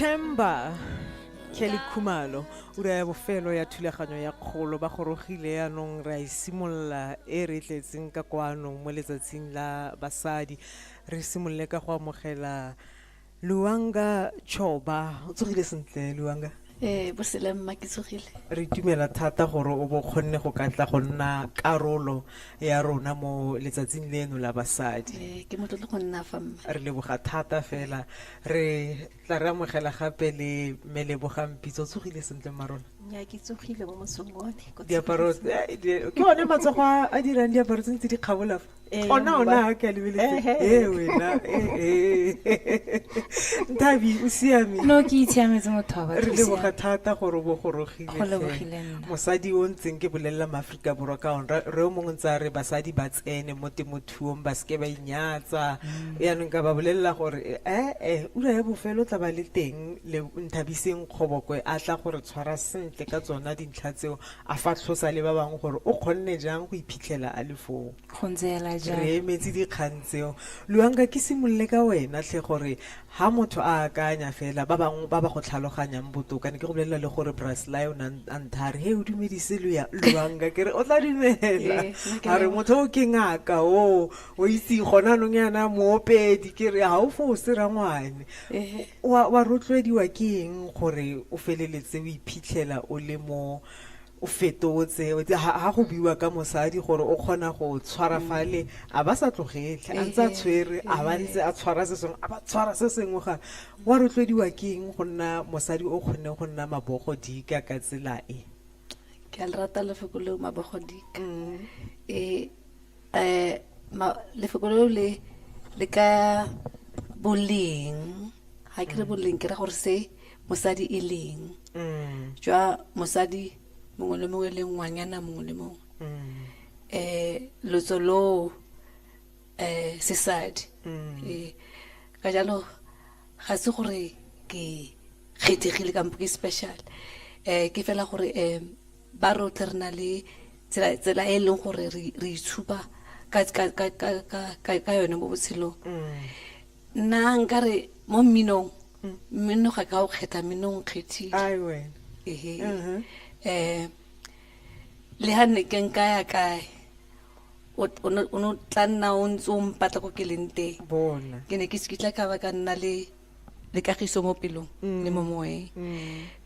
Themba Kelly Khumalo ura ya bofelo ya thulaganyo ya kgolo ba gorogile yaanong re a e simolola e re tletseng ka kwano mo letsatsing la basadi re simolole ka go amogela Luanga Choba, o tsogile sentle Luanga? Eh, bosele mma ke tsogile. Re itumela thata gore o bo kgonne go ka tla go nna karolo ya rona mo letsatsing leno la basadi. Eh, ke motlotlo go nna fa mma. Re leboga thata fela. Re tla re amogela gape le mme Leboga Mpitso, o tsogile sentle mma rona? Nya ke tsogile mo mosong one. Ko Diaparo, tsogile. eh, di- ke one matsogo a a dirang diaparo tse ntse di kgabola fa. Eh, ona o ne a ka lebeletse ee wena ee ntabi o siame no ke itshiametse motho wa batho re leboga thata gore o bogorogile mosadi o ntseng ke bolelela maaforika borwa ka one re o mongwe ntse a re basadi ba tsene mo temothuong ba seke ba inyatsa mm. yaanong ka ba bolelela gore ee eh, ura ya bofelo tla ba le teng le nthabiseng kgobokwe a tla gore tshwara sentle ka tsona dintlha tseo A fatlhosa le ba bangwe gore o kgonne jang go iphitlhela a le foo. Go ntse hela jalo. Re emetse dikgang tseo. Luanka, ke simolole ka wena tlhe gore ha motho a akanya fela, ba bangwe ba ba go tlhaloganyang botoka, ne ke go bolelela le gore Bra Sly o ne a ntha a re, He, o dumedise Luanka. Ke re, O tla dumela. A re, Motho oo ke ngaka oo, o itse, gone jaanong jaana moopedi. Ke re, Ha o fose, rangwane. O a, o a rotloediwa ke eng gore o feleletse o iphitlhela o le mo o fetotse? Ha, ha go buiwa ka mosadi gore o kgona go tshwara fale, a ba sa tlogele, a ntse a tshwere, a ba ntse a tshwara se sengwe, a ba tshwara se sengwe ga. O a rotloediwa ke eng go nna mosadi o kgonneng go nna mabogodika ka tsela e? Ke a le rata lefoko leo, mabogodika. E. Eh, ma, lefoko leo le le ka boleng ga ke re mm. boleng ke ra gore se mosadi e leng mm. jwa mosadi mongwe le mongwe le ngwanyana mongwe le mongwe mm. eh lotso lo eh sesadi eh ka jalo ga se gore ke kgethegile kampo ke special eh ke fela gore eh ba rotlhe re na le tsela e e leng gore re itshupa ka yone mo botshelong mm. nna nkare mo mminong mm. mmino ga ka o kgetha mmino o nkgethile um le ga nne ke nka ya kae o ne tla nna o ntse o mpatla ko ke leng teng ke ne ke sekitla ka ba ka nna le le kagiso mo pelong le mo moeng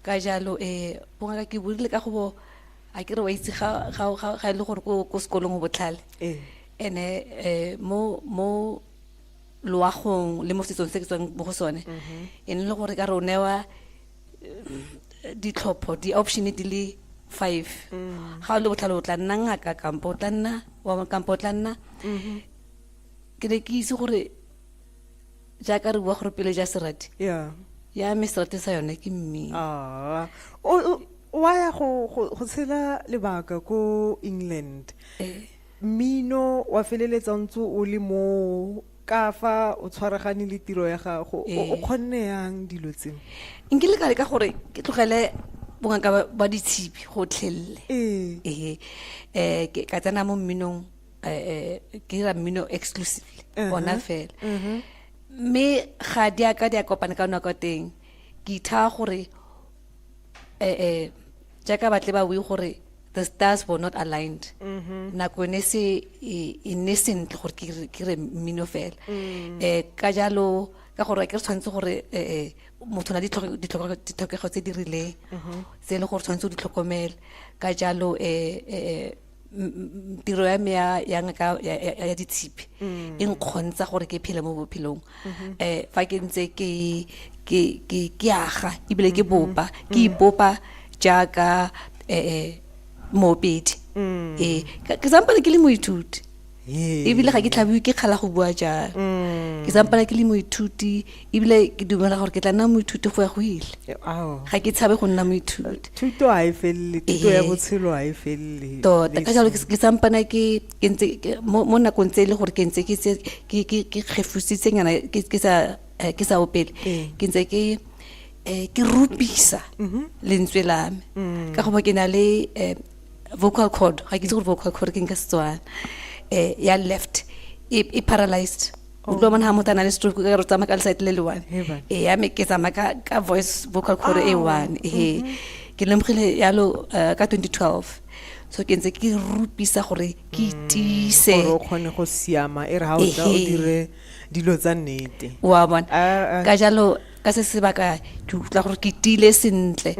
ka jalo um bongaka ke burile ka go bo a kere wa itse ga ga- ga- ga e le gore ko ko sekolong o botlhale Ee. ene um mo mo loagong le mo setsong se ke tswang mo go sone e ne e le gore ka re o newa eh, ditlhopho di-option di le five ga o le botlhale o tla nna ngaka kampo o tla nna wa- kampo o tla nna ke ne ke itse gore jaaka re bua gore pele ja serati yeah. ya me serati sa yone ke mme ah. wa ya go tshela lebaka ko england eh. mmino wa feleletsa ntse o le mo ka fa o tshwaragane le tiro ya gago o eh. kgonne yang dilo tseo nkile ka leka gore ke tlogele bongaka ba ditshipi gotlhelele ee eh, eh, ka tsena mo mminong eh, eh, ke dira mmino exclusively uh-huh. ona fela uh-huh. mme ga di a ka di a kopana ka nako teng ke ithaa gore um jaaka batle ba bue gore the stars were not aligned mm-hmm. nako ne se e, e ne sentle gore ke re mmino fela um ka jalo ka gore ke re tshwanetse gore um motho na ditlhokego tse di rileng mm-hmm. tse e le gore tshwanetse o di tlhokomele ka jalo um tiro ya me ya ya ngaka ya- ya ya ditshipi Mm. e nkgontsha gore ke phele mo bophelong Mm-hmm. um fa ke ntse ke ke ke ke aga ebile ke Mm-hmm. bopa ke Mm. ipopa jaaka um moopedi Mm. ee ka- ke sampane ke le moithuti ebile ga ke tlhabiwe ke kgala go bua jalo mm. ke sampala ke le moithuti ebile ke dumela gore ke tla nna moithuti go ya go ile ga ke tshabe go nna moithuti thuto ga e felele thuto ya botshelo ga e felele tota ka jalo ke sampana ke ntse mo nakong tse e le gore ke ntse ke kgefusitse nyana ke sa eh, ke sa opele ee. ke ntse ke eh, ke rupisa mm-hmm. lentswe lame mm. ka goba ke na le eh, vocal cord ga ke itse gore vocal cord ke nka setswana um ya left e e paralyzed o tlo bona ga motho a na le stroke ka re tsamaya ka leside le le one He bana. e ya me ke tsamaya ka, ka voice vocal cord e one e ke lemogile yalo eh, ka 2012 so ke ntse ke rupisa gore ke itise gore o kgone go siama e re ga o tla o Ehe. dire dilo tsa nnete wa bona Ah, ah. ka jalo ka se sebaka ke utlwa gore ke tile sentle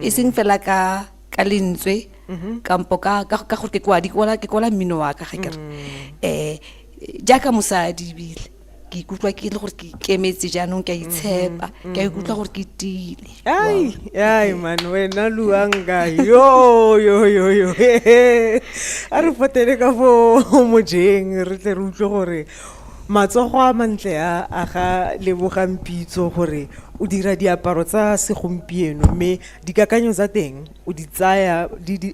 e seng fela ka ka lentswe kampo ka ka ka gore ke kwadi ke kwala ke kwala mmino wa ka ga kere eh jaaka mosadi ebile ke ikutlwa ke le gore ke ikemetse jaanong ke a itshepa ke a ikutlwa gore ke tile ai ai man wena luanga yo yo yo yo a re fotele ka fo mojeng re tle re utlwe gore matsogo a mantle a a ga lebogang pitso gore o dira diaparo tsa segompieno mme Dikakanyo tsa teng o di tsaya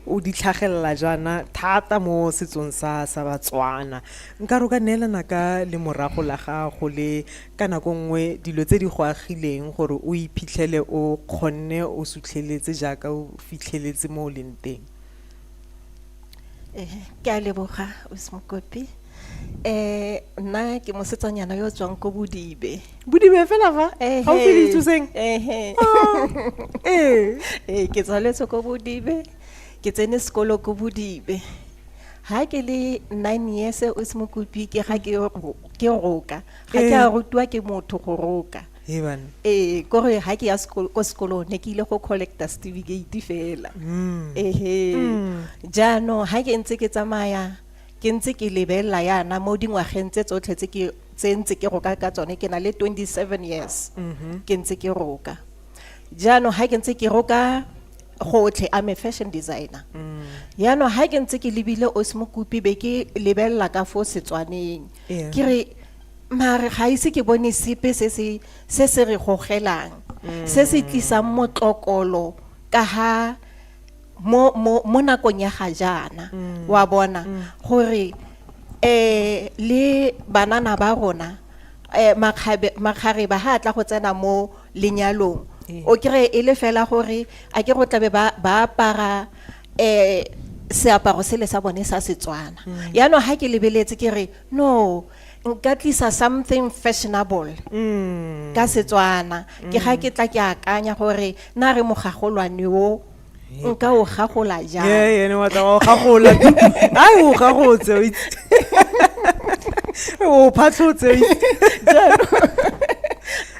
o di tlhagelela jaana thata mo setsong sa sa Batswana. Nka re o ka neelana ka lemorago la gago le ka nako nngwe dilo tse di go agileng gore o iphitlhele o kgonne o sutlheletse jaaka o fitlheletse mo o leng teng. ke a leboga Mokopi eh nna ke mosetsanyana yo tswang ko bodibe bodibe fela fa eh ga o se ditsoseng eh eh ke tswaletse ko bodibe ke tsene sekolo ko bodibe ha ke le 9 years o se mokopi ke ga ke ke roka ga ke a rutwa ke motho go roka Hebann. Ee, kore ha ke ya sekolo, ko sekolong ne ke ile go collecta certificate fela. Mm. Ehe. Mm. Jaanong ha ke ntse ke tsamaya ke ntse ke lebelela yana mo dingwageng tse tsotlhe tse ke tse ntse ke roka ka tsone ke na le 27 years. Mm-hmm. Ke ntse ke roka. Jaanong ha ke ntse ke roka gotlhe I'm a fashion designer. Mm. Jaanong ha ke ntse ke lebile Osmokupi be ke lebelela ka fo Setswaneng. ke re mare ga ise ke bone sepe se se se se re gogelang mm. se se tlisang motlokolo ka ha mo mo mo nakong ya ga jaana mm. wa bona mm. gore eh le banana ba rona eh makgabe makgare ba ha tla go tsena mo lenyalong o kire e le fela gore a ke go tlabe ba ba para eh seaparo sele sa bone sa Setswana mm. yaanong ha ke lebeletse ke re no nka tlisa something fashionable mm. ka Setswana ke ga ke tla ke akanya gore na re mogagolwane o nka o gagola jang ee ene wa tla o gagola ai o gagotse o itse o phatlhotse o itse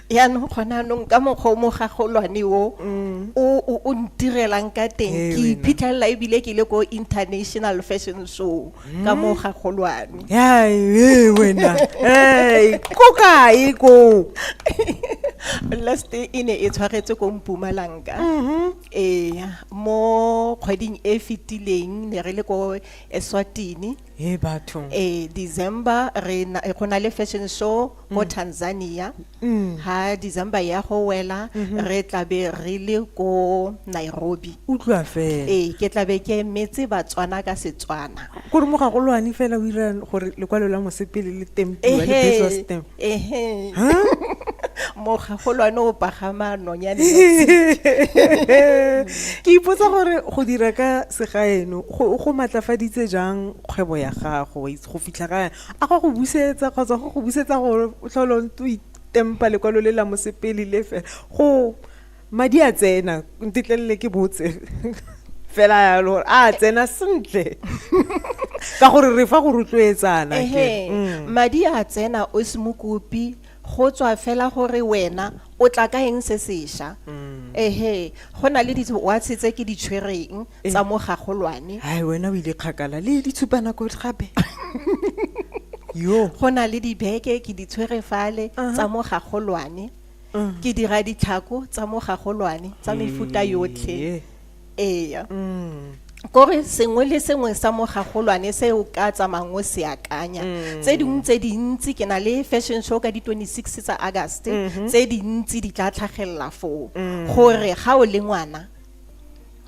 yaanong gona anong ka mokgwa o mogagolwane o mm. o ntirelang ka teng ke iphitlhelela ebile ke le ko international fashion show ka mm. mogagolwane wena ko kae ko last e ne e tshwaretse ko mpumalanka mm-hmm. ee mo kgweding e fetileng ne re le ko eswatini Hey batho. Eh December re na go na le fashion show mo Tanzania. Ha December ya go wela re tla be re le ko Nairobi. Utlwa fela. Eh ke tla be ke metse Batswana ka Setswana. Gore mo ga go lwane fela o ira gore lekwalo la mosepele le tempiwa le Ehe. business stamp. ehe mogagolwane o pagama nonyane ke ipotsa gore go dira ka segaeno go go matlafaditse jang kgwebo ya gago go fitlha ka a go go busetsa kgotsa go go busetsa gore o tlhole o itempa lekwalo le la mosepele le fela go madi a tsena ntetlelele ke botse fela yalo gore a tsena sentle ka gore re fa go rotloetsana mm. madi a tsena o se mokopi go tswa fela gore wena o tla ka eng se sesha mm. ehe go na le ditwatse tse ke di tshwereng eh. tsa mo gagolwane hai wena o ile kgakala le ditshupana ko gape yo go na le dibeke ke di tshwere fale tsa mo gagolwane mm. ke dira ditlhako tsa mogagolwane tsa mefuta yotlhe eya mm. kore sengwe le sengwe sa mogagolwane se o ka tsamayng o se akanya mm. tse dingwe tse dintsi ke na le fashion show ka di-26 tsa august mm-hmm. tse dintsi di tla tlhagelela foo mm. gore ga o le ngwana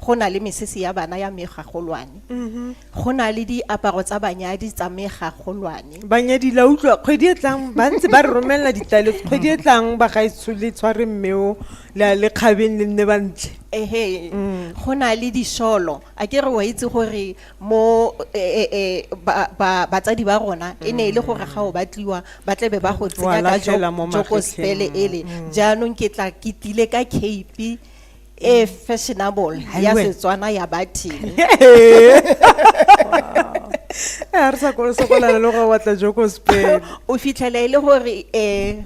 go na le mesese ya bana ya megagolwane mm-hmm. go na le diaparo tsa banyadi tsa megagolwane banyadi la utlwa kgwedi e tlang ba ntse ba re romelela ditlaleletso kgwedi e tlang ba gaetsho le tshware mmeo le kgabeng le nne ba ntle ehe mm. go na le disholo a ke re wa itse gore mo e, e, e, batsadi ba rona e ne e le mm. gore ga o batliwa ba tlebe ba go tsenya ka joko spele ele mm. jaanong ke tla ke tile ka cape e fashionable ya setswana ya bathini a re sa kolo sokolana le go batla joko spain o fitlhela e le gore um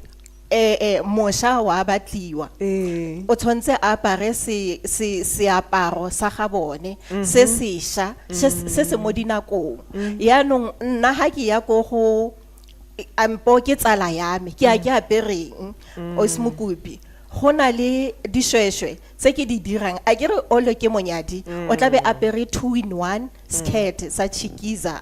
eh eh mosha wa batliwa eh o tshwantse a apare se se seaparo sa ga bone mhm. se sesha se se mo dinakong mhm. ya nong nna ha ke ya go go ampo ke tsala ya me ke a ke apereng o se mokopi go na le dishweshwe tse ke di dirang a ke re olo ke monyadi o tlabe apere two in one skirt sa chikiza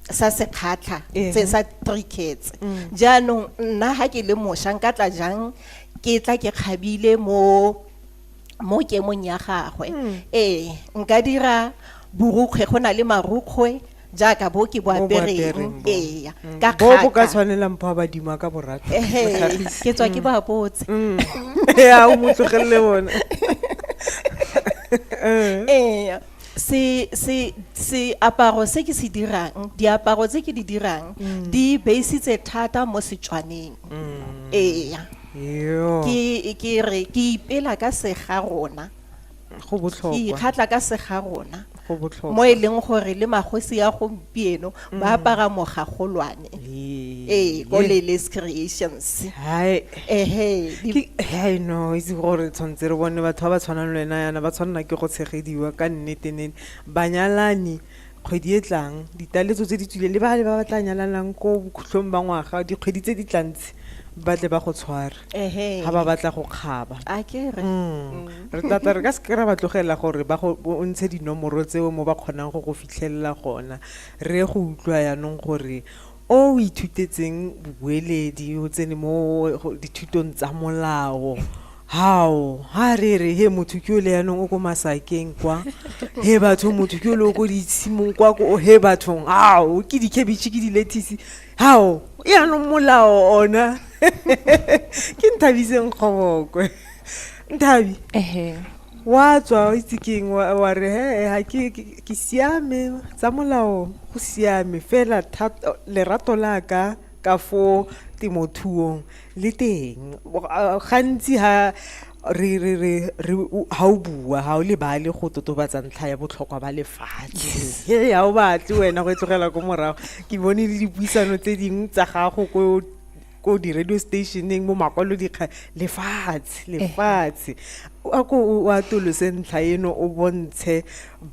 sa sekgatlha Ehe. tse sa three kids jaanong nna ga ke le mošwa nka tla jang ke tla ke kgabile mo mo kemong ya gagwe ee nka dira borukgwe go na le marukgwe jaaka bo ke bo apereng ee ka bo bo ka tshwanelang pho ba dima ka borata ke tswa ke ba botse mm. ya o motlogelele bona ee se se se aparo se ke se dirang diaparo tse ke di dirang mm. di beisitse thata mo setswaneng mm. ee ke ke re ke ipela ka sega rona go botlhokwa ke ikgatla ka sega rona go botlhokwa mo e leng gore le magosi ya gompieno mm. ba apara mogagolwane ee ko lele's creations ehe i know itse gore tshwanetse re bone batho ba ba tshwanang le wena yana ba tshwanela ke go tshegediwa ka nnete nene banyalani kgwedi e tlang ditaletso tse di tswileng le bale ba ba tla nyalanang ko bokhutlhong ba ngwaga dikgwedi tse di tlantse ba tle ba go tshware ga ba batla go kgaba mm. re tata re ka se kry-a ba tlogela gore ba o ntshe dinomoro tseo mo ba kgonang go go fitlhelela gona re go utlwa yanong gore O o ithutetseng bobueledi, o tsene mo dithutong tsa molao. Hao, ha re re, he motho ke ole yanong o ko masakeng kwa. He batho motho ke ole o ko ditshimong kwa ko he bathong. Hao, ke dikhabitšhe ke dilethisi. Hao, yanong molao ona. ke Nthabiseng Kgobokwe. Nthabi. Ehe. Wa tswa o itse keng wa re he ha ke Ke siame, tsa molao go siame, fela lerato la ka ka fo temothuong le teng. Gantsi ha re re re re ha o bua ha o lebale go totobatsa ntlha ya botlhokwa ba lefatshe he ha o batle wena go e tlogela ko morago ke bone le dipuisano tse dingwe tsa gago ko ko di-radio stationeng mo makwalodikga lefatshe lefatshe a ko o atolose ntlha eno o bontshe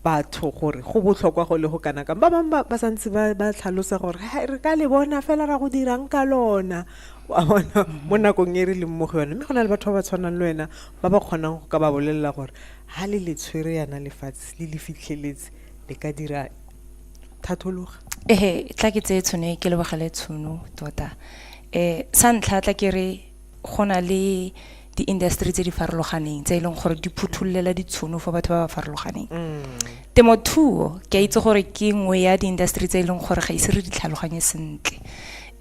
batho gore go botlhokwa go le go kana kang ba bangwe ba santse ba tlhalosa gore re ka le bona fela ra go dirang ka lona wa bona mo nakong e re leng mo go yone mme go na le batho ba ba tshwanang le wena ba ba kgonang go ka ba bolelela gore ga le le tshwere yana lefatshe le le fitlheletse le ka dira thathologa ee tla ke tseye tshono e ke lebogele tshono tota um sa ntlha tla ke re go na le di-industry tse di farologaneng tse e leng gore di phuthulela ditshono for batho ba ba farologaneng mm. temothuo ke a itse gore ke nngwe ya di-industry tse e leng gore ga ise re di tlhaloganye sentle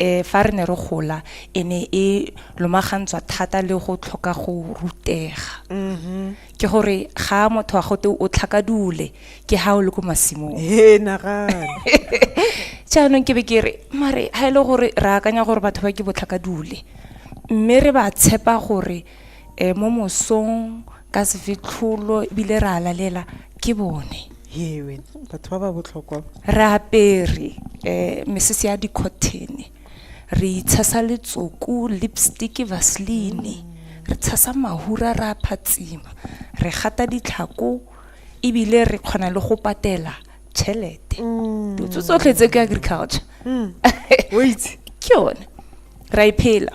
um fa re ne re gola e ne e lomagantswa thata le go tlhoka go rutega mm-hmm. ke gore ga motho wa gote o tlhakadule ke ha o le ko masimong jaanong ke be ke re mare ga e le gore re akanya gore batho ba ke botlhakadule mme re ba tshepa gore um mo mosong ka sefetlholo ebile re a lalela ke bone re apere um mesese ya dicottene Re itshasa letsoku, lipstick, vaseline. Re tshasa mahura re a phatsima. Re gata ditlhako ebile re kgona le go patela tšhelete. Dilo tse tsotlhe tse ke agriculture. O a itse. Ke yone. Re a e phela.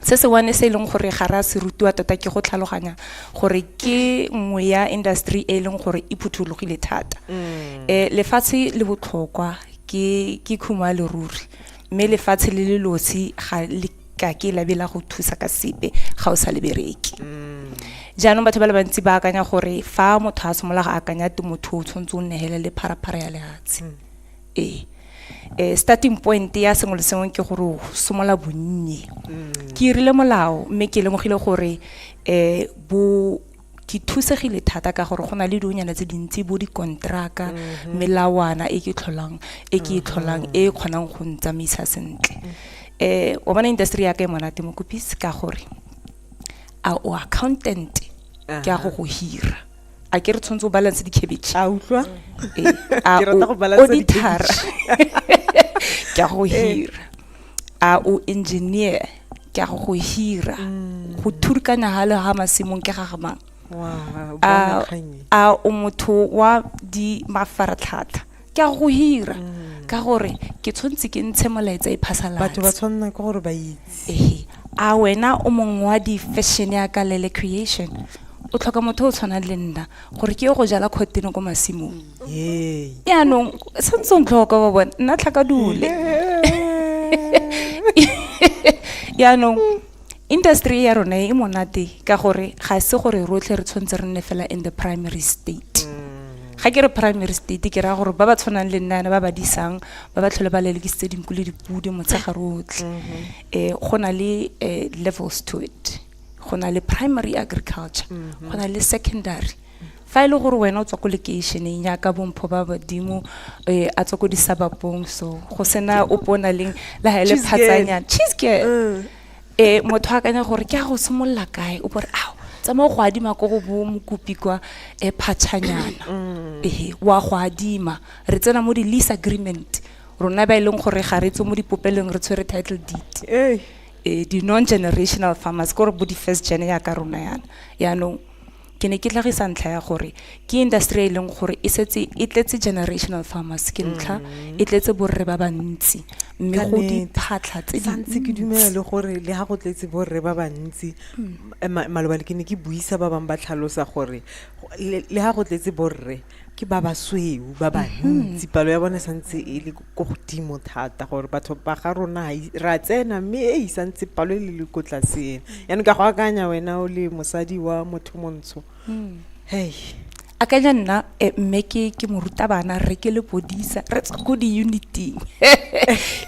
se se one se e leng gore ga re a se rutiwa tota ke go tlhaloganya gore ke nngwe ya industry e e leng gore e phuthologile thata um lefatshe le botlhokwa ke ke khumo ya leruri mme lefatshe le le losi ga le ka ke labe la go thusa ka sepe ga o sa le bereke jaanong batho ba le bantsi ba akanya gore fa motho a simolola go akanya temothuo o tshwanetse o nehele le pharaphara ya lefatshe ee um starting point ya sengwe le sengwe ke gore o somola bonnye mm. ke irile molao mme ke lemogile gore um bo ke thusegile thata ka gore go na le dionyana tse dintsi bo dikontraka mm-hmm. melawana e ke tlholang e ke e tlholang e mm-hmm. kgonang go ntsamaisa sentle um o bona industry ya ka e monate mokopisi ka gore a o accountant ke a go go hira a ke re tshwanetse o balance dikhabitšhe a utlwa Ke rata go balance auditora ke a go hira a o engineer ke a go go hira go thurikanya ga le ga masimong ke ga gamang Wow, a bona kgang e. a o motho wa di mafaratlhatlha ke a go hira mm. ka gore ke tshwanetse ke ntshe molaetsa e phasalatse batho ba tshwanela ke gore ba itse ehe a wena o mong wa di-fashion ya ka lele creation o tlhoka motho o tshwanang le nna gore ke yo go jala kgotene ko masimong yaanong santse o ntlhoka ba bone nna tlhaka dule yaanong Industry e ya rona e monate ka gore ga se gore rotlhe re tshwanetse re nne fela in the primary state ga ke re primary state ke raya gore ba ba tshwanang le nna yana ba ba disang ba ba tlhole ba lelekisitse dinku le dipudi motshega rotlhe um go na le um levels to it go na le primary agriculture go na le secondary Fa e le gore wena o tswa ko lekeišeneng yaka bompho ba badimo eh, a tswa ko disabapong so go sena ope o na leng le ga e le Cheese girl. phatsanyana cheese girl Mm. eh motho a akanya gore ke a go simolola kae o bore ao tsamaya go adima ko go bo mokopi kwa eh phatshanyana Mm. ehe wa go adima re tsena mo di lease agreement rona ba e leng gore ga re tswe mo dipopelong re tshwere title deed Hey. eh di non generational farmers gore bo di first gen ya ka rona yana yaanong ke ne ke tlhagisa ntlha ya gore ke industry e leng gore e setse e tletse generational farmers ke ntlha mm. e tletse borre ba bantsi mme go diphatlha tse dintsi ke dumela le gore le ga go tletse borre ba bantsi mm. eh, maloba le ke ne ke buisa ba bangwe ba tlhalosa gore le ga go tletse borre ke ba basweu ba bantsi mhm. palo ya bone santse e le ko godimo thata gore batho ba ga rona ra tsena mme e e santse palo e le le ko tlaseng mhm. yaanong ka go akanya wena o le mosadi wa motho montsho mhm. hey akanya nna eh, mme ke ke morutabana re ke le bodisa re tswa ko di-uniting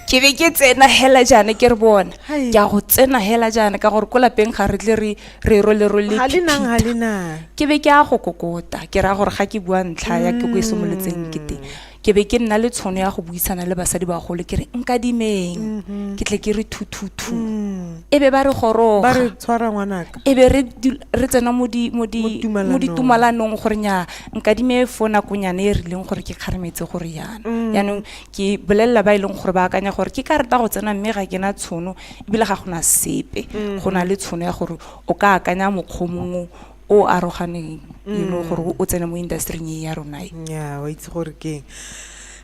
ke be ke tsena hela jaana ke re bona ke a go tsena hela jaana ka gore ko lapeng ga re tle re re ro le role ha le nang ha le nang ke be ke a go kokota ke ra gore ga ke bua ntlha ya ke go e simolotseng ke teng ke be ke nna le tshono ya go buisana le basadi ba gole ke re nka dimeng mm-hmm. ke tle ke re thuthuthu mm. e be ba re goroga ba re tshwara ngwanaka e be re re tsena mo di mo di mo di tumalanong gore nya nka dime fo nakonyane e rileng gore ke kgaremetse gore yana mm. yaanong ke bolelela ba e leng gore ba akanya gore ke ka reta go tsena mme ga ke na tshono ebile ga gona sepe mm-hmm. go na le tshono ya gore o ka akanya mokgwa mongwe o aroganeng you know mm. gore o tsene mo industry-ing e ya rona e. ya wa itse gore keng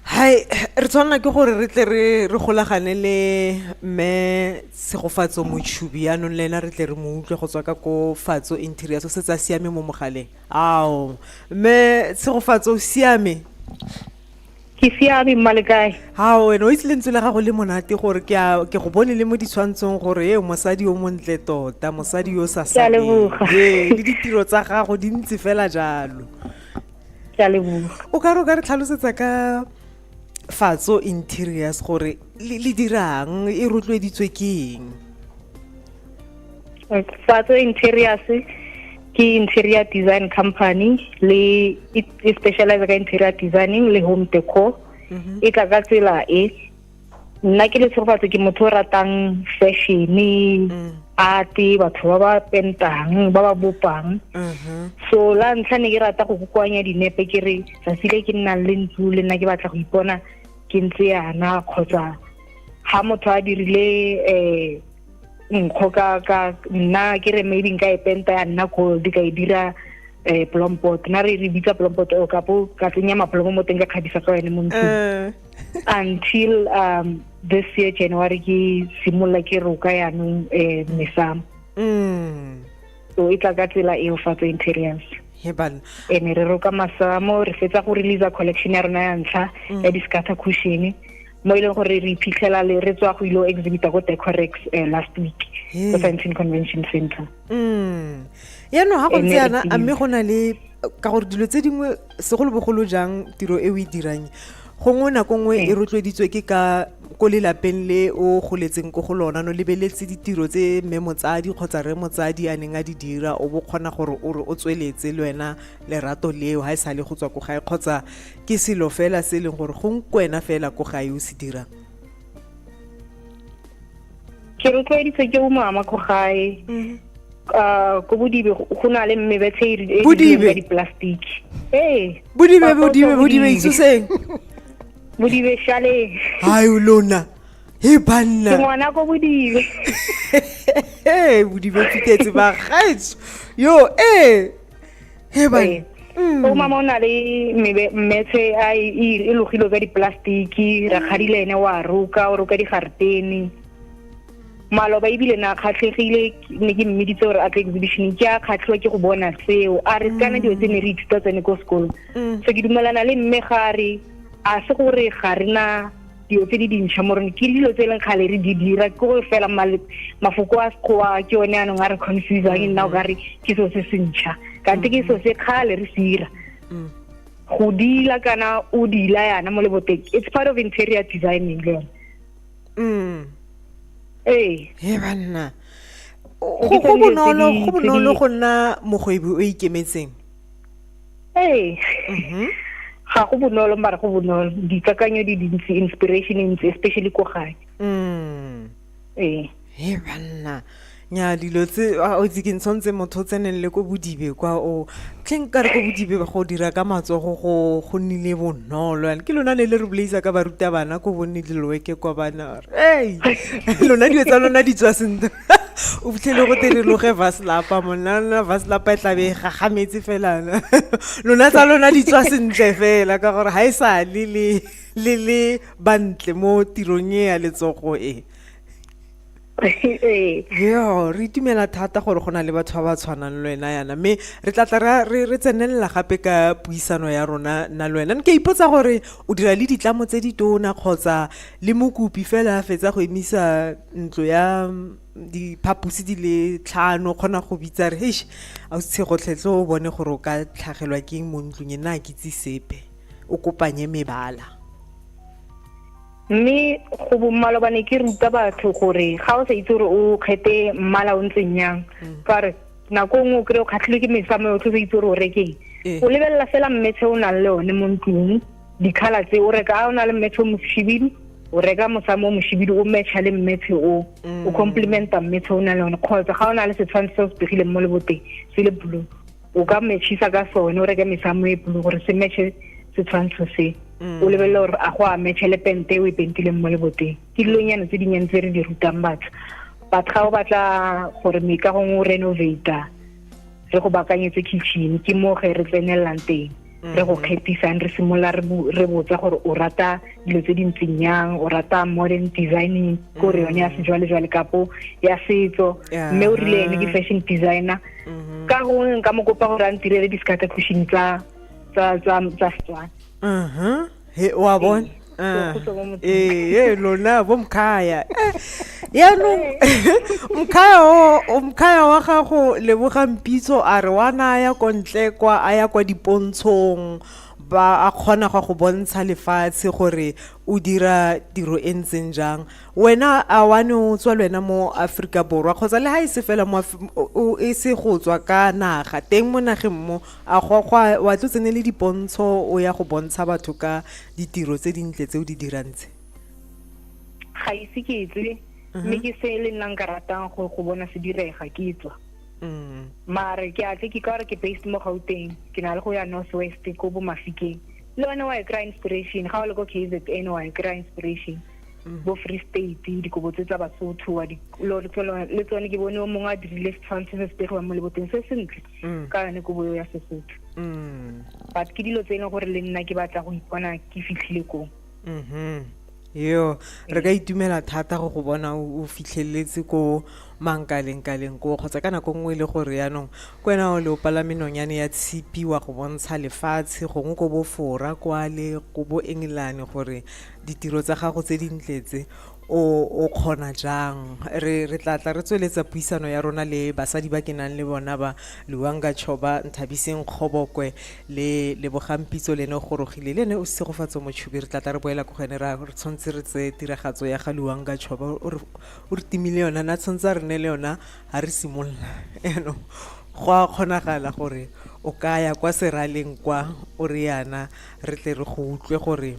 hai re tshwanela ke gore re tle re re golagane le mme segofatso motshubi yaanong le ena re tle re mo utlwe go tswa ka ko fatso interior so se tsa siame mo mogaleng ao mme segofatso o siame ke siame mma le kae ao wena o itse lentswe la gago le monate gore ke a- ke go bone le mo ditshwantshong gore e mosadi o montle tota mosadi yo o sa Ke a saleng. leboga. Ee, le ditiro tsa gago di ntse fela jalo ke a leboga o ka re o ka re tlhalosetsa ka fatso interiors gore le le dirang e rotloeditswe ke eng fatso interiors ke interior design company le e e specialize ka interior designing le home decor mhm. e tla ka tsela e nna ke letshegofatse ke motho o ratang fashion mm. ate batho ba ba pentang ba ba bopang mhm. so la ntlha ne ke rata go kokoanya dinepe ke re tsatsi le ke nnang le ntlo le nna ke batla go ipona ke ntse yana kgotsa ga motho a dirile um nkgo ka ka nna ke re maybe nka e penta ya nna gold ka e dira eh plompot na re re bitsa plompot o kapo ka tsenya maplomo mo teng ka kgabisa ka yone mo ntlong eh. until um this year january ke simolola ke roka yanong eh mesamo mm. so e tla ka tsela eo fa tse interiors heban ene re roka masamo re fetsa go release collection ya rona ya ntlha mm. ya discatha cushion mo e leng gore re iphitlhela le re tswa go ilo exhibita ko decorex eh, last week ko science and convention center mm. yaanong ga go ntse yana a mme go na le ka gore dilo tse dingwe segolobogolo jang tiro e o e dirang gongwe nako nngwe e rotloeditswe ke ka ko lelapeng le o goletseng ko go lona no lebeletse ditiro tse mme motsadi kgotsa re motsadi a neng a di dira o bo kgona gore o re o tsweletse le wena lerato leo ga e sa le go tswa ko gae kgotsa ke selo fela se e leng gore go nkwena fela ko gae o se dirang ke rotloeditse ke o mama ko gae mm-hmm. uh, ko bodibe go na le mme betshe e, e, e di-plastic ee bodibe bodibe bodibe isuseng bodibe shaleng hai lona he banna ke ngwana ko bodibe ee bodibe fitetse bagaetso yo ee he ba ee. mm. o mama o na le mmetshe a e, e, e logilo ka diplastiki ra kgadile ene wa roka o roka digartene maloba ebile na kgatlhegile ne ke mmeditse gore a tle exhibition ke a kgatlhiwa ke go bona seo a re kana dilo tse ne re ithuta tsene ko sekolong mm. so ke dumelana le mme ga re a se gore ga re na dilo tse di dintšha mo rone ke dilo tse e leng kgale re di dira ke gore fela mafoko a sekgowa ke one anong a re confusang nna o ka re ke selo se se ntšha kante ke selo se kgale re se dira mm. go dila kana o dila yana mo leboteng it's part of interior designing le yone mm. ee he banna go bonolo go nna mogwebi o ikemetseng ee mhm. ga go bonolo mara go bonolo dikakanyo di dintsi inspiration e ntsi especially ko gae mm. ee he banna nya dilo tse a o tse ke ntshwantse motho o tseneng le ko bodibe kwa o tlheng ka re ko bodibe go dira ka matsogo go go nnile bonolo yana ke lona ne le re bolaisa ka barutabana ko bonne diloweke kwa bana ee lona dilo tsa lona di tswa sentle o fitlhele go tere loge vaslapa monna vaslapa e tlabe e gagametse felana lona tsa lona di tswa sentle fela ka gore ga e sa le le le bantle mo tirong e ya letsogo e yo re itumela thata gore go na le batho ba ba tshwanang le wena yana mme re tla tla re tsenelela gape ka puisano ya rona nna le wena ke ipotsa gore o dira le ditlamo tse di tona kgotsa le mokopi fela a fetsa go emisa ntlo ya diphaposi di le tlhano kgona go bitsa re heish a o tshegotlhetlhe o bone gore o ka tlhagelwa ke mo ntlong e nna a kitse sepe o kopanye mebala mme go bomalobane ke ruta batho gore ga o sa itse gore o kgete mmala o ntseng yang mm. ka re nako nngwe o kry-e o kgatlhilwe ke mesamo yotlhe o sa itse gore o rekeng ee. o lebelela fela mmetshe o nang le one mo ntlong dikhala tse o reka a o na le mmetshe o moshibidu o reka mosamo o moshibidu o matcha le mmetshe o mm. o complimenta mmetshe o na le one kgotsa ga o na le setshwantsho se o se pegileng mo leboteng se le blue o ka matchisa ka sone o reke mesamo e blue gore se matche setshwantsho se mm. o lebelele gore a go a matche le pente o e pentileng mo leboteng ke dilonyana tse dinnyane tse re di rutang batho batho ga o batla gore meikagong o renovata re go bakanyetse kitchen ke mo ge re tsenelelang teng mm-hmm. re go kgethisang re simolola re botsa gore o rata dilo tse di ntseng yang o rata modern designing ko re yone ya mm-hmm. sejwalejwale kapo ya setso mme o rile ene ke fashion designer mm-hmm. ka gongwe nka mo kopa gore a ntirele di-scatter cushion tsa setswana he wa bona Ah, Ke kgutla mo motseng. ee ee, lona bo mkhaya Eh, yaanong mkhaya o- o- mkhaya wa gago leboga mpitso a re wa naya ko ntle kwa a ya kwa dipontshong ba a kgona go go bontsha lefatshe gore o dira tiro e ntseng jang wena a wane o tswa le wena mo aforika borwa kgotsa le ga e se fela mo Af- o- o- e se go tswa ka naga teng mo nageng mo A go gwa wa tlo tsene le dipontsho o ya go bontsha batho ka ditiro tse dintle tse o di dirang tse? Ga ise ke etse mhm. mme ke se le nna nka ratang go go bona se direga ke etswa. Mm. Mare ke a tle ke ka re ke based mo Gauteng ke na le go ya North West ko bo Mafikeng. Le one wa e kry inspiration ga o le ko KZN wa e kry inspiration. Mm. bo free state dikobo tse tsa basotho le tsone ke bone o mongwe a dirile setshwantsho se se pegiwang mo leboteng se sentle mm. ka yone kobo eo ya sesotho mm. but ke dilo tse e leng gore le nna ke batla go ipona ke fitlhile koo mm-hmm. yo re ka itumela thata go go bona o fitlheletse ko mankalengkaleng koo kgotsa ka nako nngwe e le gore yaanong ko wena o le o palame nonyane ya tshipi wa go bontsha lefatshe gongwe ko bofora kwale ko bo engelane gore ditiro tsa gago tse dintle tse o o kgona jang re re tla tla re tsweletsa puisano ya rona le basadi ba ke nang le bona ba luanga choba nthabiseng kgobokwe le lebogampitso lene o gorogile le ene o segofatso motshubi re tla tla re boela ko go ene ra re tshwanetse re tse tiragatso ya ga luanga choba o re o re timile yona na tshwanetse a re ne le yona ga re simolola yaanong go a kgonagala gore o ka ya kwa seraleng kwa o re yana re tle re go utlwe gore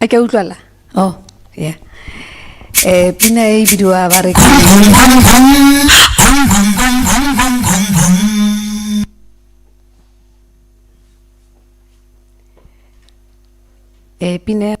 a ke utlwala oh yeah eh pina e bidiwa ba re eh pina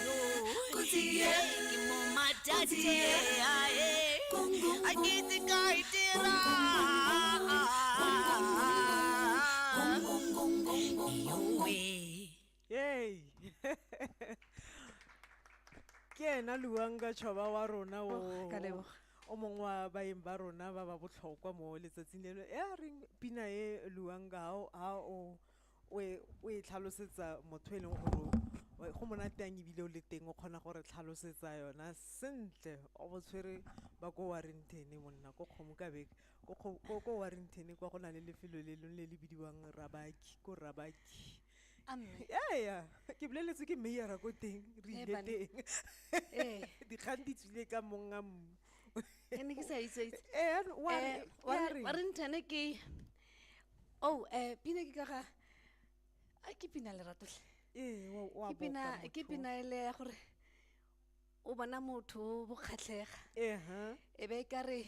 ke ena luang ka tšhoba wa rona o oh, o mongwe wa baeng ba rona ba ba botlhokwa mo letsatsing leno e a reng pina e luang ka ga o o e o e tlhalosetsa motho e leng gore go monate yang ebile o le teng o kgona gore tlhalosetsa yona sentle o bo tshwere ba ko warrington monna ko kgomo ka beke ko warrington kwa go na le lefelo le leng le le bidiwang rabaki ko rabaki ea ke boleletswe ke mayora ko teng re ile teng dikgang di tswile ka monga mmu ee warrington ke Oh, eh pina ke ka ga a ke pina le ratole. Ee, wa wa Ke pina boka ke motho. pina ele ya gore o bona motho bo kgatlhega. Ehe. E be ka re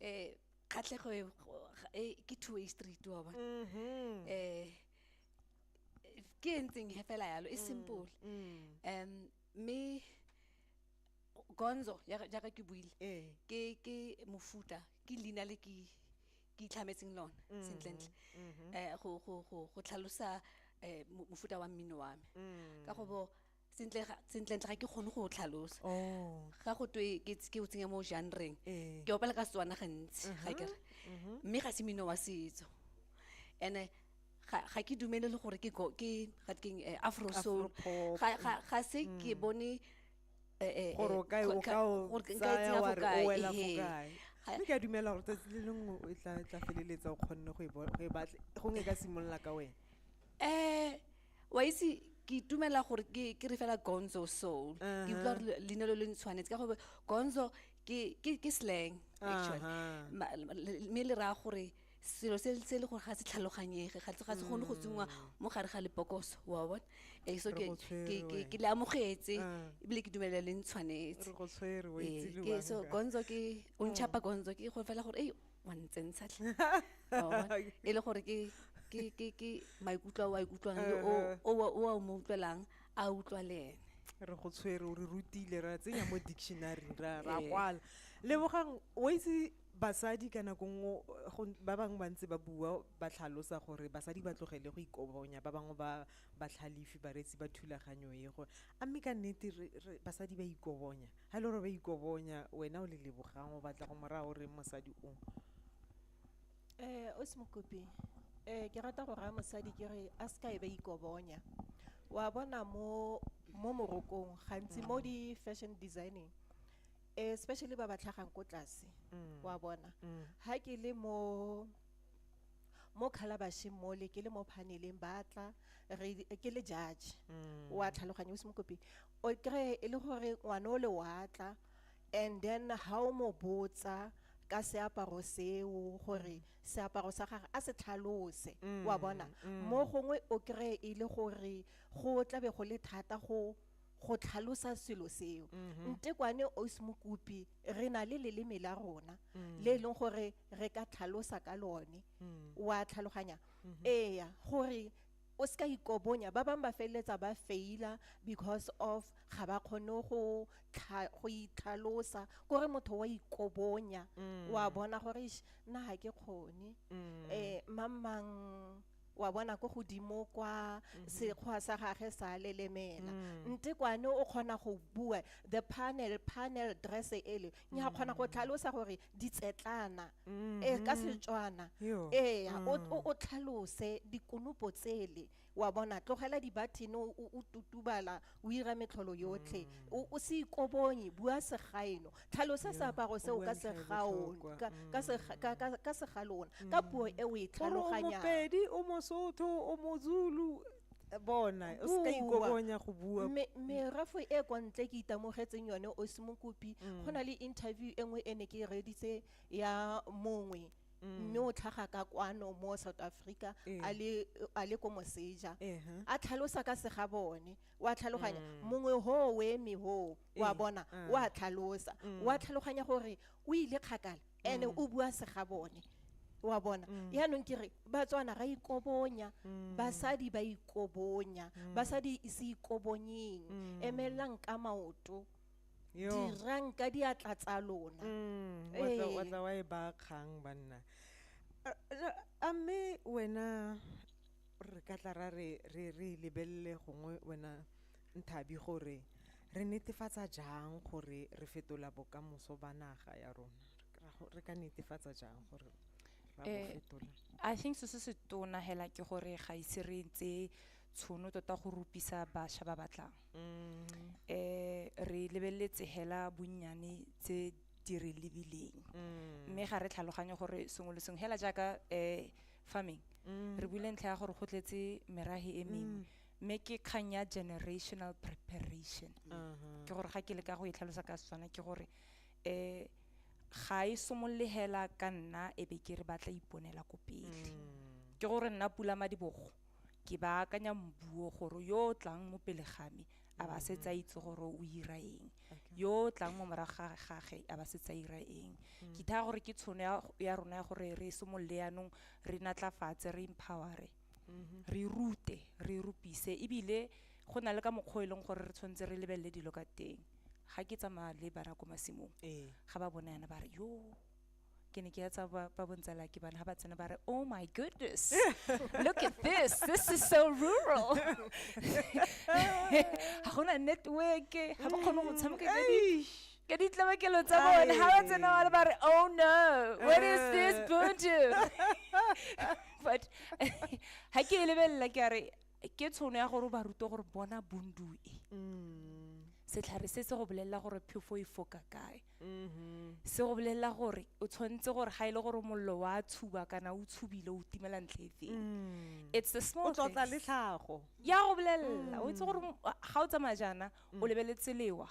eh kgatlhego e go- ga- e ke two way street wa bona. Mhm. Eh eh, ke e ntseng he fela yalo e simple. Mm. Um me Gonzo ya jaaka ke buile. Ee. Ke ke mofuta ke leina le ke ke itlhametseng lone mm-hmm. sentlentle mm-hmm. eh, go tlhalosa eh, mofuta wa mmino wa me mm. ka go bo sentlentle ga ke kgone go tlhalosa oh. ga go twe ke o tsenya mo janreng eh. ke opela ka setswana gantsi ga kere mm-hmm. mme ga se mmino wa setso ene ga ke dumele le gore ke ga ke afro soul ga se ke mm. bone eh, eh, gore o kae o ka o tsaya wa re o wela fo kae mme ke a dumela gore tsatsi le lengwe o tla tla feleletsa o kgonne go e batle gongwe e ka simolola ka wena um wa itse ke itumela gore ke re fela gonzo soul ke utlwa gore leina lo le ntshwanetse ka gore gonzo ke slang actually mme le raya gore selo se se le gore ga se tlhaloganyege ga se gone go tsenngwa mm. mo gare ga lepokoso wa bona e so ke ke le amogetse ah. ebile ke dumelela le ntshwanetse ke so gonzo ke o ntšhapa gonzo ke go fela gore ei wa ntsentsha tlhe e le gore ke ke ke ke maikutlo a o a ikutlwang le o o a mo utlwelang a utlwa le ene re go tshwere o re rutile ra tsenya mo dictionary ra ra kwala lebogang o itse Basadi ka nako nngwe ba bangwe ba ntse ba bua ba tlhalosa gore basadi ba tlogele go ikobonya, ba bangwe ba batlhalifi, bareetsi ba thulaganyo e, gore a mme ka nnete basadi ba ikobonya? Ha e le gore ba ikobonya, wena o le Lebogang o batla go mo raya o reng mosadi o? Ausi Mokopi, ke rata go raya mosadi ke re a se ka e ba ikobonya. Wa bona mo morokong gantsi mo di-fashion designing, especially ba ba tlhagang ko tlase mm. wa bona mm. ha ke le mo mo khalabasheng mole ke le mo phaneleng batla ke le judge mm. wa tlhaloganya o se mokopi o kry e le gore ngwana o le watla and then ha o mo botsa ka seaparo seo gore seaparo sa gagwe a se tlhalose wa bona mo gongwe o kry e le gore go tlabe go le thata go go tlhalosa selo seo mm-hmm. nte kwane os mokopi re na le leleme la rona mm. le e leng gore re ka tlhalosa ka lone mm. wa tlhaloganya mm-hmm. eya gore o se ka ikobonya ba bangwe ba feleletsa ba faila because of ga ba kgone go itlhalosa kore motho wa ikobonya mm. wa bona gore na ga ke kgone um mm. eh, mamang wa bona ko godimo kwa mhm. sekgwa sa gage sa lelemela mm. nte kwane o kgona go bua the panel panel dress ele nya mm. kgona go tlhalosa gore ditsetlana mm-hmm. e ka setswana ee mm. o tlhalose dikonopo tsele wa bona tlogela dibathene o tutubala o ira metlholo yotlhe o o se ikobonye bua segaeno tlhalosa Yeah, seaparo o seo bua ka ntlha e segaon- botlhokwa. ka- ka sega- ka- ka- ka segalona ka puo e o e gore o tlhaloganyang mopedi o mosotho o mozulu eh, bona o se ka Bua. ikobonya go bua Me- merafo e kwa ntle ke itamogetseng yone o se mokopi go na le interview e nngwe e ne ke e reeditse ya mongwe mme o tlhaga ka kwano mo south africa Ee. a le- a le ko moseja Ehe. a tlhalosa ka sega bone wa tlhaloganya mongwe hoo o eme hoo wa Ee, bona ah. wa tlhalosa wa tlhaloganya gore o ile kgakala ene o bua sega bone wa bona yaanong ke re batswana ra ikobonya basadi ba ikobonya basadi se ikobonyeng emelelang ka maoto Yo. dirang ka diatla tsa lona Mm, wa tla- wa Ee. tla wa e ba kgang banna A- a- a mme wena re ka tla ra re re re lebelele gongwe wena nthabi gore re netefatsa jang gore re fetola bokamoso ba naga ya rona Ra go- re ka netefatsa jang gore ra bo Eh, fetola i think se se se tona hela ke gore ga ise re tseye tshono tota go rupisa bašwa ba batlang um re lebeletse hela bonnyane tse di re lebileng mm. mme ga re tlhaloganye gore sengwe le sengwe hela jaaka um farming mm. re buile ntlha ya gore go tletse merage e mengwe mm. mme ke kgang ya generational preparation uh-huh. ke gore ga ke le ka go e tlhalosa ka setswana ke gore um ga e somolole hela ka nna e be ke re batla iponela ko pele ke gore nna pula madibogo ke ba akanya mbuo gore yo o tlang mo pele ga me a ba se tsa itse gore o ira eng yo o tlang mo morago ga gage a ba se tsa ira eng mm. ke thaya gore ke tshono ya rona ya gore re simolole yanong re natlafatse re empowere mm-hmm. re rute re rupise ebile go na le ka mokgwa e leng gore re tshwanetse re lebelele dilo ka teng ga ke tsamaya le bara ko masimong ee. ga ba bona yana ba re yoo ke ne ke ya tsa ba ba bontsala ke bana ha ba tsena ba re oh my goodness look at this this is so rural ha gona network ha ba kgone go tshameka ka di ka ditlabakelo tsa bone ha ba tsena ba le ba re oh no what is this buntu but ha ke e lebelela ke a re ke tshono ya gore o ba rute gore bona bundu e setlhare se se go bolelela gore phefo e foka kae se go bolelela gore o tshwanetse gore ga e le gore mollo wa tshuba kana o tshubile o timela ntle e feng mm. it's the small things o le tlhago ya go bolelela o itse gore mm. ga o tsamaya jaana o mm. lebeletse lewa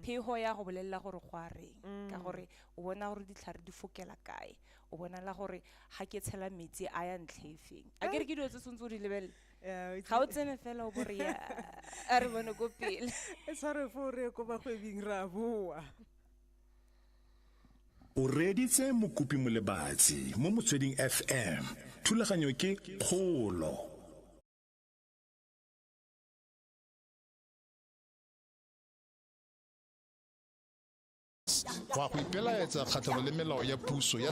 phego ya go bolelela gore go a reng ka gore o bona gore ditlhare di fokela kae o bonala gore ga ke tshela metsi a ya ntlhe e feng a ke re ke dilo tse tshwanetse o di lebelele Eh, ga o tsene fela o bore ya a re bone ko pele e tshware fo re ko bagwebing ra boa o reeditse mokopi molebatsi mo motsweding fm thulaganyo ke kgolo go a go ipelaetsa kgatlhanong le melao ya puso ya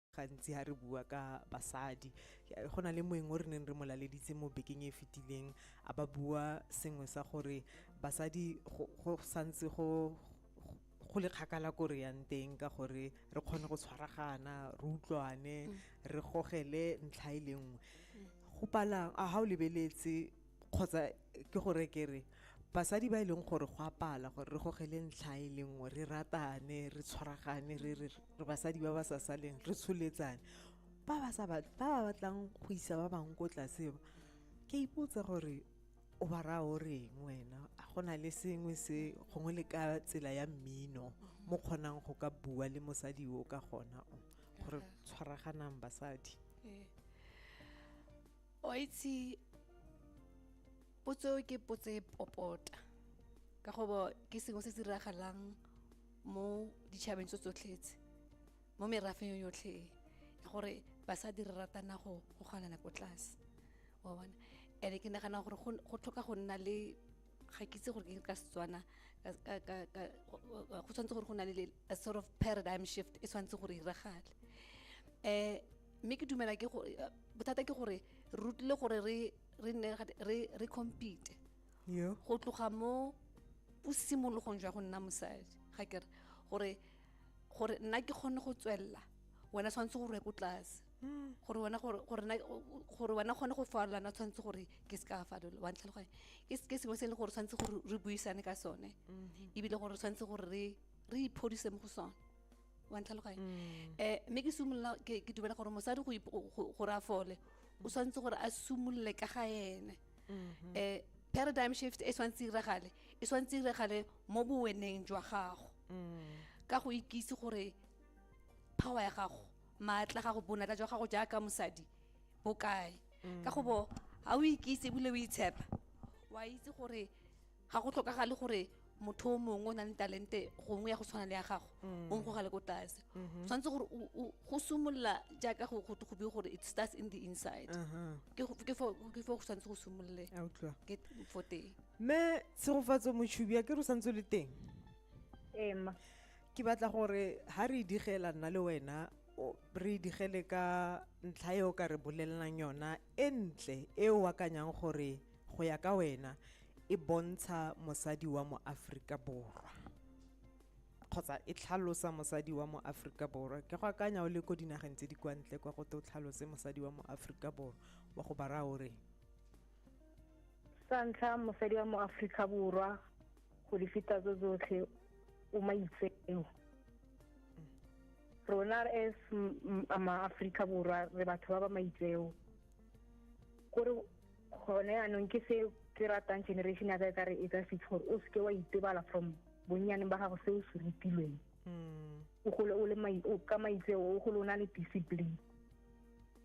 gantsi ha re bua ka basadi go na le moeng o re neng re mo laleditse mo bekeng e fetileng a ba bua sengwe sa gore basadi go santse go go le kgakala ko re yang teng ka gore re kgone go tshwaragana re utlwane mm. re gogele ntlha e le nngwe mm. go palang a ga o lebeletse kgotsa ke gore ke re basadi ba e leng gore go apala gore re gogele ntlha e le nngwe re ratane re tshwaragane re re re basadi ba ba sa saleng re tsholetsane ba ba sa ba ba batlang go isa ba bangwe ko tlase ba ke ipotsa gore o ba raya o reng wena a go na le sengwe se gongwe le ka tsela ya mmino mo kgonang go ka bua le mosadi o ka gona o gore tshwaraganang basadi Eh, o a itse potso ke potso e popota ka go bo ke sengwe se se diragalang mo ditšhabeng tso tsotlhetse mo merafeng yotlhe e gore basadi re ratana go go ganana ko tlase wa bona and ke nagana gore go tlhoka go nna le ga ke itse gore ke ka setswana go tshwanetse gore go na le a sort of paradigm shift e tshwanetse gore iragale um mme ke dumela ke gore eh, bothata ke gore re rutile gore re re nne re re compete yo go tloga mo bosimologong jwa go nna mosadi ga ke re gore gore nna ke kgone go tswelela wena tshwanetse gore ko tlase hmm. gore wena gore gore na gore wena kgone go farolana tshwanetse gore ke se ka fadola wa ntlhaloganya ke ke sengwe se e leng gore tshwanetse gore re buisane ka sone mm-hmm. ebile gore tshwanetse gore re re iphodise mo go sone wa ntlhaloganya mm. eh mme ke simolola ke dumela gore mosadi go ra fole o tshwanetse gore a simolole ka ga ene mm-hmm. eh paradigm shift e tshwanetse iragale e tshwanetse iragale mo boweneng jwa gago mm. ka go ikise gore power ya gago maatla gago bonatla jwa gago jaaka mosadi bokae mm. ka go bo ga o ikise ebile o itshepa wa itse gore ga go tlhokagale gore motho o mongwe o na le talente gongwe ya go tshwana le ya gago mm. o nkgogale ko tlase mm-hmm. tshwanetse gore go simolola jaaka go go go gore it starts in the inside uh-huh. ke fo go tshwanetse go simolole ke fo teng mme tshegofatso motshubi a ke re o santse le teng ema ke batla gore ha re digela nna le wena re digele ka ntlha e o ka re bolelelang yona e ntle e o akanyang gore go ya ka wena e bontsha mosadi wa mo Aforika Borwa kgotsa e tlhalosa mosadi wa mo Aforika Borwa ke go akanya o le ko dinageng tse di kwa ntle kwa go te o tlhalose mosadi wa mo Aforika Borwa wa go bara o re sa ntlha mosadi wa mo Aforika Borwa go di feta tso tsotlhe o maitseo rona as ma-aforika borwa re batho ba ba maitseo kore gone anong ke se ke ratang generation ya ka e ka re e ka fitlhe gore o seke wa itebala from bonnyaneng ba gago se o se rutilweng hmm. o gole o le ka maitseo o gole o na le discipline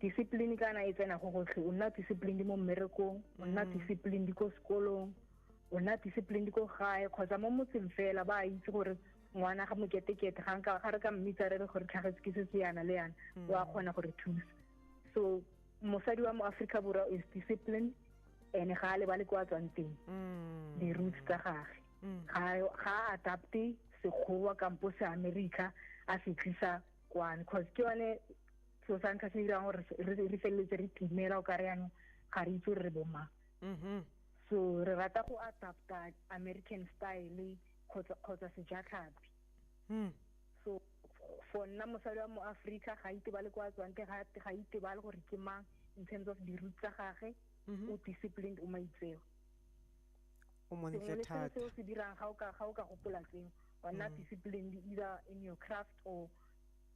discipline kana e tsena go gotlhe o nna discipline mo mmerekong o nna hmm. discipline di ko sekolong o na disciplined ko gae kgotsa mo motseng fela ba itse gore ngwana ga moketekete ga nka ga re ka mmitsa re re gore tlhagetse ke se se yana le yana mm. wa kgona gore thusa so mosadi wa mo Africa borwa is disciplined ene ga a lebale kwa tswang teng mm. di-roots tsa gage mm. ga a adapte sekgowa kampo se america a se tlisa kwane cause ke yone so sa ntlha se dirang gore re feleletse re timela o ka re yanong ga re itse gore re bomang mm-hmm. so re rata go adapta american style kgotsa sejatlhapi hmm. so for nna mosadi wa mo aforika ga itebale kwa tswang ke ga itebale gore ke mang in terms of di-root tsa gage mm-hmm. o disciplined o maitseo o montle thata seo se dirang ga o ka gopola tseo wa nna mm. disciplined either in your craft or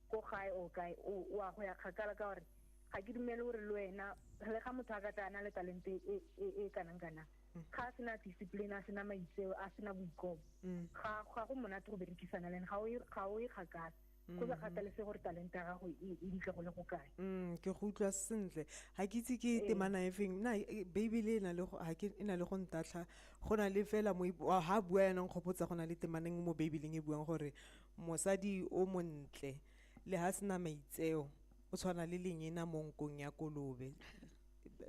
ko gae o kae o a go ya kgakala ka gore ga ke dumele gore le wena le ga motho a ka tla a na le talente e, e, e kanang kanang mm. ga a sena discipline a sena maitseo a sena boikobo mm. ga go monate go berekisana le ene ga o e kgakala go sa mm. kgathalese gore talente ya gago e ditle go le go kae ke go utlwa sentle ga ke itse ke ee. temana efeng na e, beibele e na le go ntatlha go na le fela ga bua yanang kgopotsa go na le temaneng mo beibeleng e buang gore Mosadi o montle le ha sena maitseo o tshwana le lenyena mo nkong ya kolobe.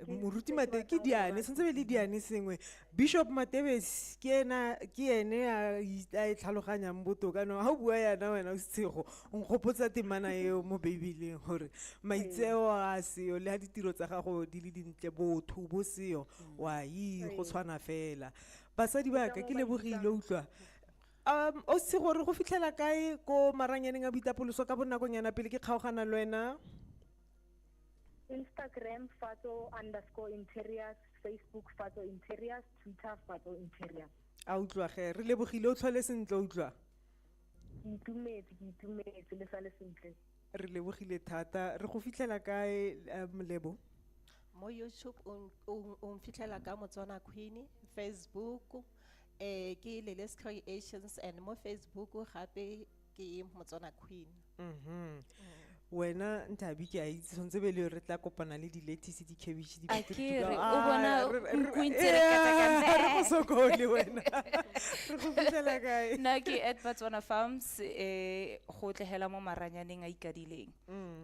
Moruti Matebesi ke diane sentse be le diane sengwe Bishop Matebesi ke ena ke ene a a e tlhaloganyang botoka no ha o bua yana wena o setshego o nkgopotsa temana eo mo Bibeleng gore maitseo a seo le ha ditiro tsa gago di le dintle botho bo seo wa yi go tshwana fela basadi ba ka ke lebogile utlwa Um, o se gore go fitlhela kae ko maranyaneng a boitapoloso ka bonakonyana pele ke kgaogana le wena Instagram Fatso underscore interiors, Facebook Fatso interiors, Twitter Fatso interiors. a utlwa ge re lebogile o tlhole sentle o utlwa Ke itumetse, ke itumetse le sa le sentle. re lebogile thata re go fitlhela kae eh, molebo mo youtube o n- o n- o mfitlhela ka motswana queen facebook eh ke Lele's Creations and mo Facebook gape ke Motswana Queen mhm wena nthabi ke a itse tshwanetse be le re tla kopana le di-lettuce di-cabbage di- Akere, o Ah, bona re- re- nku e ntse e re Yeah, katakanta. re go sokole wena re go fitlhela kae na ke at batswana farms eh go tlehela mo maranyaneng a ikadileng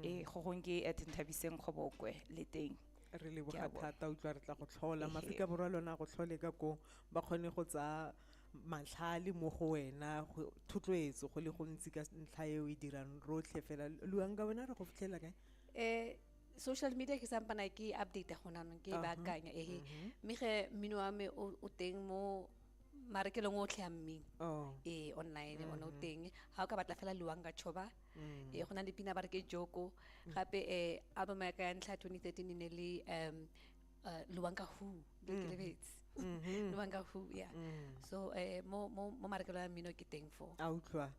eh go gong ke at nthabiseng kgobokwe le teng re leboga thata utlwa re tla go tlhola maaforika borwa le ona go tlhole ka ko ba kgone go tsaya matlhale mo go wena thotloetso go le gontsi ka ntlha e o e dirang rotlhe fela luang ka wena re go fitlhela kae um social media ke sampana ke update go nanong ke e baakanya ehe mhm. mme ge mmino wa me o teng mo marekelong otlhe a mmino oh. ee online one o mhm. teng ga o ka batla fela luang ka choba mm. e go na le pina ba re ke joko mm. gape um album ya ka ya ntlha 2013 e ne le um uh, luwanka who le ke lebetse mm-hmm. luwanka who ya so um mo mo mo marekelo ya mmino ke teng fo a utlwa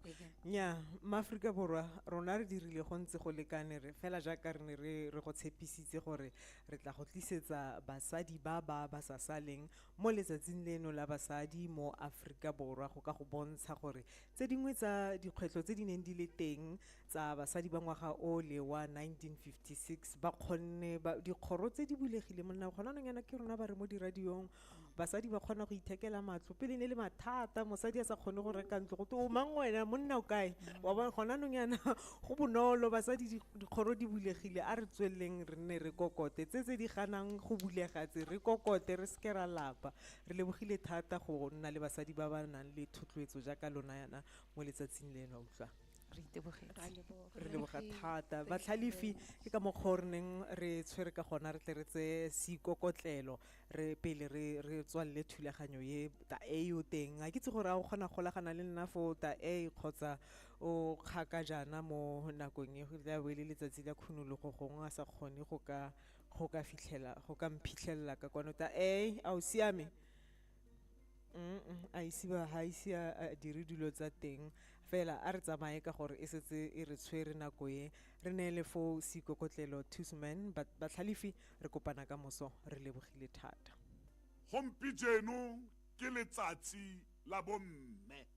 nya maaforika borwa rona re dirile go ntse go lekane re fela jaaka re ne re re go tshepisitse gore re tla go tlisetsa basadi ba ba ba sa saleng mo letsatsing leno la basadi mo aforika borwa go ka go bontsha gore Tse dingwe tsa dikgwetlho tse di neng di le teng tsa basadi ba ngwaga o le wa 1956 ba kgonne dikgoro tse di bulegile monna gona nong yana ke rona ba re mo diradiong basadi ba kgona go ithekela matlo pele ne le mathata mosadi a sa kgone go reka ntlo go te o mang wena monna o kae wa bona gona nong yana go bonolo basadi dikgoro di bulegile a re tsweleleng re nne re kokote tse tse di ganang go bulega tse re kokote re seke ra lapa Re lebogile thata go nna le basadi ba ba nang le thotloetso jaaka lona yana mo letsatsing leno. Utlwa, re itebogetse. Re leboga thata. Batlhalefi, ke ka mokgwa o re neng re tshwere ka gona re tle re tseye seikokotlelo re pele re re tswalele thulaganyo e. Ta A yo teng, ga ke itse gore a o kgona go golagana le nna foo, Ta A, kgotsa o kgakajana mo nakong e, e tla bo e le letsatsi la khunologo gongwe a sa kgone go ka. go ka fitlhela go ka mphitlhelela ka kwano ta e a o siame a ise ba ga ise a dire dilo tsa teng fela a re tsamaye ka gore e setse e re tshwere nako e re neele fo seikokotlelo tusman batlhalefi re kopana ka moso re lebogile thata gompijeno ke letsatsi la bomme